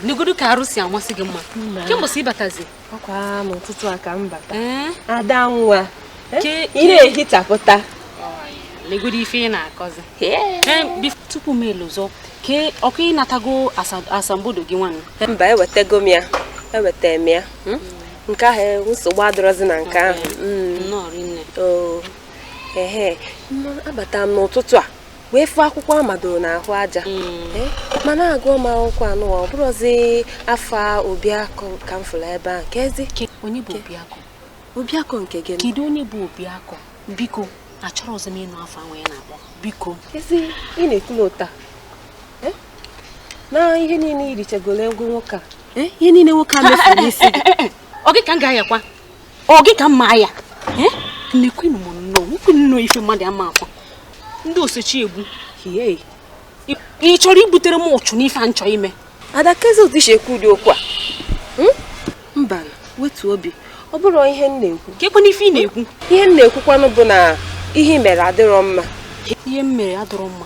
negodu ka arụ si amasị gị mma kee mgbe i si batazi ọkwa n'ụtụtụ a ka m bata ada nwa ị na-ehichapụta negodu ife ị na-akọzi tupu m elozọ ke ọkwa ị natago asambodo gị nwanne mba ewetago m ya eweta m ya hmm? nke ahụ e, nsogbu adịrọzi na nke ahụ hmm. ehe abata m n'ụtụtụ a wee fụ akwụkwọ a madoro n'ahụ aja mm. eh, mana agụọ m akwụkwọ anụwa ọ bụrụzi afa obiakọ ka m fụrụ ebe ahụ kezi onye bụ obiakọ obiakọ nke gị kedu onye bụ obiakọ biko achọrọzị m ịnụ afa ahụ ị na-akpọ biko kezi ị na-ekwu otu a eh? na ihe niile i richagoro ego nwoke a eh, ihe niile nwoke a mefuru n'isi gị ọ gị ka m ga-ayakwa ọ gị ka ma ya na-ekwunu nnọọ ekwu nnọọ ife mmadụ ama ọkwa ndị o so chi egbu ị chọrọ ibutere m uchu n'ife a m chọ ime ada kezi otu i si ekwu ụdị okwu a hmm? mba wetu obi ọ bụrọ ihe m na-ekwu kekwanụ ife ị na-ekwu ihe m na-ekwukwanụ bụ na ihe mere adịrọ mma ihe m mere adịrọ mma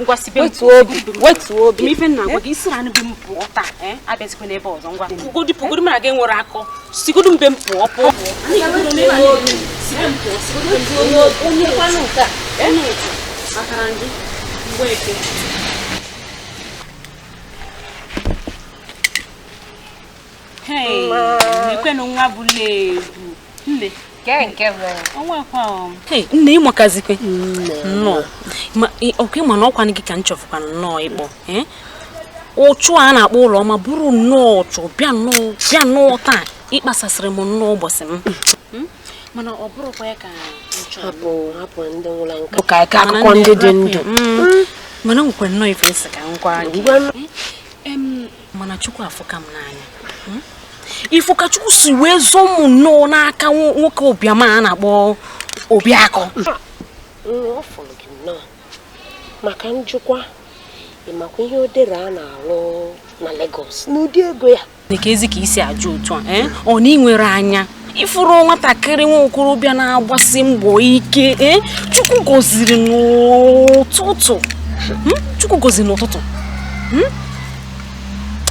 ngwa si be m wetuo obi wetuo obi ife m na-agwa gị si na be m pụọ taa eh? abịazikwana ebe a ọzọ ngwa pụgodi pụgodi mara gị nwere akọ sigodu be m pụọ pụọ ekwenụ nwa bụla ebu nne nne ị makazikwa nnọọ ọkwa ị ma na ọkwanụ gị ka m chọfụkwa nnọọ ịkpọ eh? uchu a na-akpọ ụlọọma buru nnọọ uchu bịa nnọọ bịa nnọọ taa ịkpasasịrị m nnọọ ụbọchị m hmm? mana ọ bụrụkwa ya ka hapụ hapụ ndị nwụrụ anwụ ka a kaa akụkọ ndị dị ndụ hmm. mana nwekwa nnọọ ife m sị ka m gwa gị mana chukwu afụka m n'anya hmm? ị fụ ka chukwu si wee zọọ m nnọọ n'aka nwoke ụbịam a na-akpọ obiakọ ma ka m jụkwa ị makwa ihe odera na-alụ na Lagos na ụdị ego ya kezi ka i si ajụ otu a eh? ọ na ị nwerọ anya ị fụrọ nwatakịrị nwa okorobịa na-agbasi mbọ ike e, chukwu gọziri n'ụtụtụ hmm? chukwu gọziri n'ụtụtụ hmm?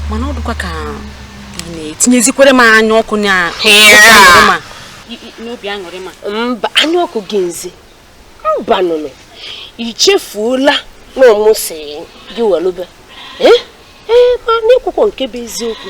mana ọ dịkwa ka ị na-etinyezikwara m anya ọkụ n'obi aṅụrị m a mba anya ọkụ gịnịzi mbanụnụ i chefuola na ọ mụ sị gị welube ee eh? eh, mana i kwukwọ nke bụ eziokwu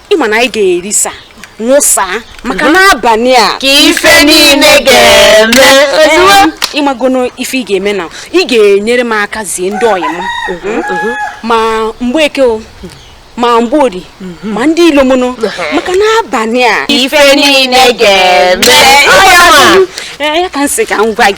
ị ma na anyị ga-erisa nwụsa maka mhm. n'abanị a ka ife niine ga-eme ozugbo ị magono ife ị ga-eme na ị ga-enyere m aka zie ndị ọyị m mhm, mhm. ma mgbeke o ma mgbori ma ndị ilomono maka n'abanị a ife niile ga-eme ya ka m sị ka m gwa gị